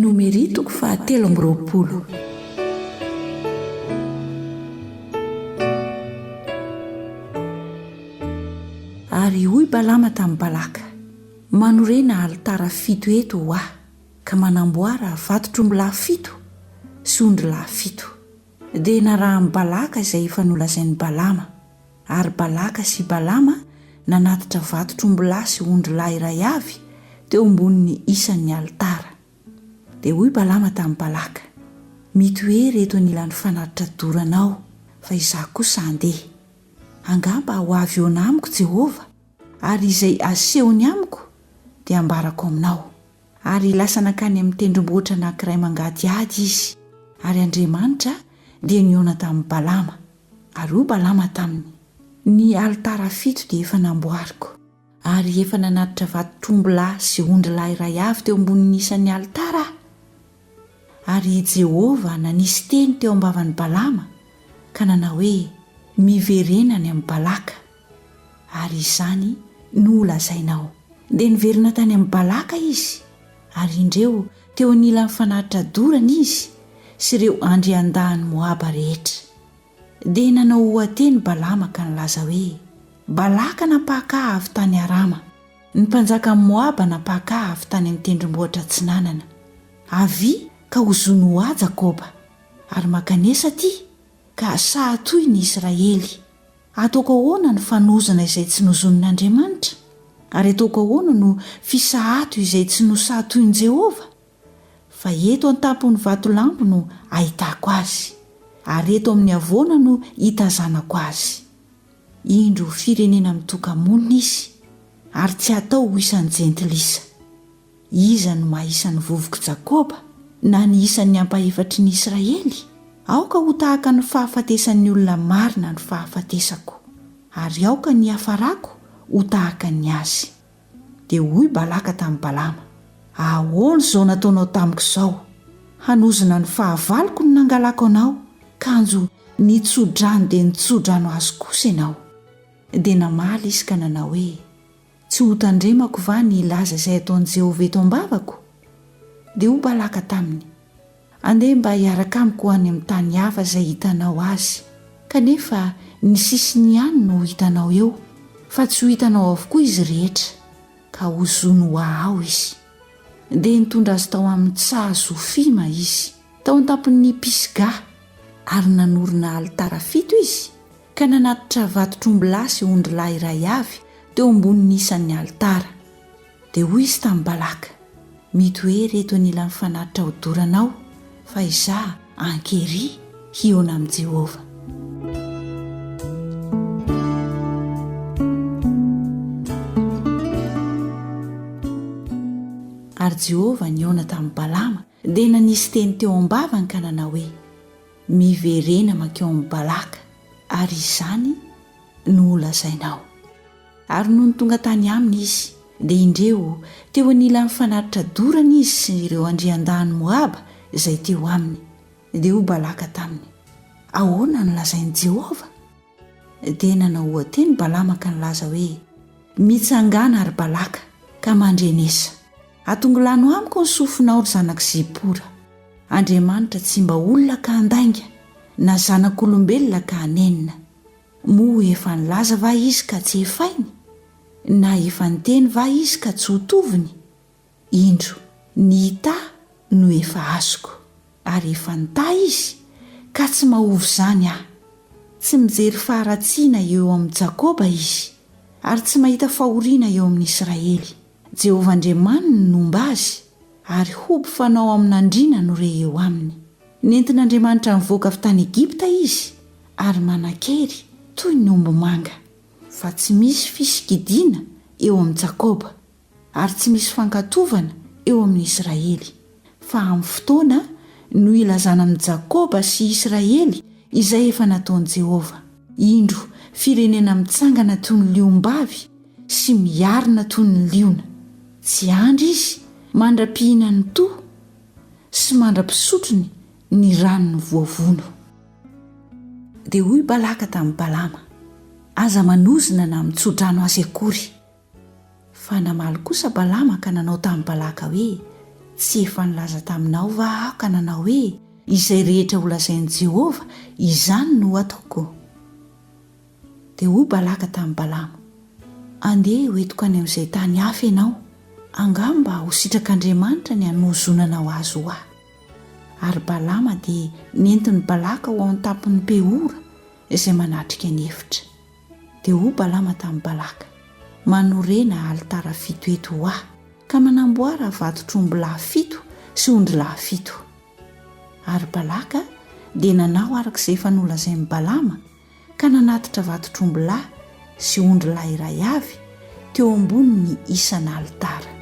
Numéri toko fahatelo amby roapolo. Ary hoy Balama tamin'i Balaka, Manorena alitara fito eto ho ahy, ka manamboara vatotr'ombilahy fito sy ondrilahy fito. Dia narahan'i Balaka izay efa nolazain'i Balama. Ary Balaka sy Balama nanatitra vatotr'ombilahy sy ondrilahy iray avy teo ambonin'ny isan'ny alitara. Dia hoy Balama tamin'i Balaka, Mitoery eto anilan'ny fanatitra dorana ao, fa izaho kosa handeha. Angamba ho avy eoana amiko Jehovah, ary izay asehony amiko dia ambarako aminao. Ary lasa nankany amin'ny tendrombohitra anankiray mangadihady izy, ary Andriamanitra dia nihaona tamin'i Balama. Ary hoy Balama taminy, Ny alitara fito dia efa namboariko, ary efa nanatitra vatotr'ombilahy sy ondrilahy iray avy teo ambonin'ny isan'ny alitara aho. Ary i Jehovah nanisy teny teo am-bavan'i Balama, ka nanao hoe, Miverena any amin'i Balaka. Ary izany no holazainao. Dia niverina tany amin'i Balaka izy, ary indreo teo anilan'ny fanatitra dorana izy sy ireo andriandahin'i Moaba rehetra. Dia nanao oha-teny Balama ka nilaza hoe, Balaka nampahakaha avy tany Arama, ny mpanjakan'i Moaba nampahakaha avy tany amin'ny tendrombohitra atsinanana. Avia ka hozono ho ahy Jakoba, ary mankanesa aty, ka saha toy ny Israely. Ataoko ahoana ny fanozona izay tsy nozonin'Andriamanitra, ary ataoko ahoana no fisahato izay tsy nosahatoin'i Jehovah? Fa eto an-tampon'ny vatolampo no ahitako azy, ary eto amin'ny havoana no hitazanako azy. Indro ho firenena mitoka-monina izy, ary tsy hatao ho isan'ny jentilisa. Iza no maha isan'ny vovok'i Jakoba, na ny isan'ny ampahefatry ny Israely? Aoka ho tahaka ny fahafatesan'ny olona marina ny fahafatesako, ary aoka ny hiafarako ho tahaka ny azy. Dia hoy Balaka tamin'i Balama, Ahoana izao nataonao tamiko izao? Hanozona ny fahavaloko no nangalako anao, kanjo nitso-drano dia nitso-drano azy kosa ianao. Dia namaly izy ka nanao hoe, Tsy hotandremako va ny hilaza izay ataon'i Jehovah eto am-bavako? Dia hoy Balaka taminy, Andeha mba hiaraka amiko ho any amin'ny tany hafa izay hitanao azy. Kanefa ny sisiny ihany no ho hitanao eo, fa tsy ho hitanao avokoa izy rehetra, ka hozony ho ahao izy. Dia nitondra azy tao amin'ny tsaha Zofima izy, tao an-tampon'i Pisga, ary nanorina alitara fito izy Ka nanatitra vatotr'ombilahy sy ondrilahy iray avy teo ambonin'ny isan'ny alitara. Dia hoy izy tamin'i Balaka, Mito ery eto anilan'ny fanatitra hodorana ao, fa izaho ankery hihaona amin'i Jehovah. Ary Jehovah nihaona tamin'i Balama Dia nanisy teny teo am-bavany ka nanao hoe, Miverena mankeo amin'i Balaka, ary izany no holazainao. Ary nony tonga tany aminy izy, dia indreo, teo anilan'ny fanatitra dorana izy sy ireo andriandahin'i Moaba izay teo aminy. Dia hoy Balaka taminy, Ahoana no lazain'i Jehovah? Dia nanao oha-teny Balama ka nilaza hoe, Mitsangàna, ry Balaka, ka mandrenesa. Atongilano amiko ny sofinao, ry zanak'i Zipora. Andriamanitra tsy mba olona ka handainga, na zanak'olombelona ka hanenina. Moa efa nilaza va Izy ka tsy hefainy? Na efa niteny va Izy ka tsy ho toviny? Indro, ny ita no efa azoko, ary efa nita izy, ka tsy mahovy izany aho. Tsy mijery faharatsiana eo amin'i Jakoba izy, ary tsy mahita fahoriana eo amin'i Israely. Jehovah Andriamaniny no homba azy, ary hoby fanao amin'andriana no re eo aminy. Nentin'Andriamanitra nivoaka avy tany Egypta izy, ary manan-kery toy ny ombimanga. Fa tsy misy fisikidina eo amin'i Jakoba, Ary tsy misy fankatovana eo amin'ny Israely, fa amin'ny fotoana no hilazana amin'i Jakoba sy Israely izay efa nataon'i Jehovah. Indro, firenena mitsangana toy ny liom-bavy sy miarina toy ny liona. Tsy andry izy, mandra-pihinan'ny toa sy mandra-pisotrony ny ranon'ny voavono. Dia hoy Balaka tamin'i Balama, Aza manozona na mitso-drano azy akory. Fa namaly kosa Balama ka nanao tamin'i Balaka hoe, Tsy efa nilaza taminao va aho ka nanao hoe, 'Izay rehetra holazain'i Jehovah, izany no hataoko'? Dia hoy Balaka tamin'i Balama, Andeha hoentiko any amin'izay tany hafa ianao, angamba ho sitrak'Andriamanitra ny hanohozonanao azy ho ahy. Ary Balama dia nentin'i Balaka ho ao an-tampon'i Peora, izay manatrika ny efitra. Dia hoy Balama tamin'i Balaka, Manorena alitara fito eto ho ahy, ka manamboara vatotr'ombilahy fito sy ondrilahy fito. Ary Balaka dia nanao araka izay efa nolazain'i Balama, ka nanatitra vatotr'ombilahy sy ondrilahy iray avy teo ambonin'ny isan'alitara.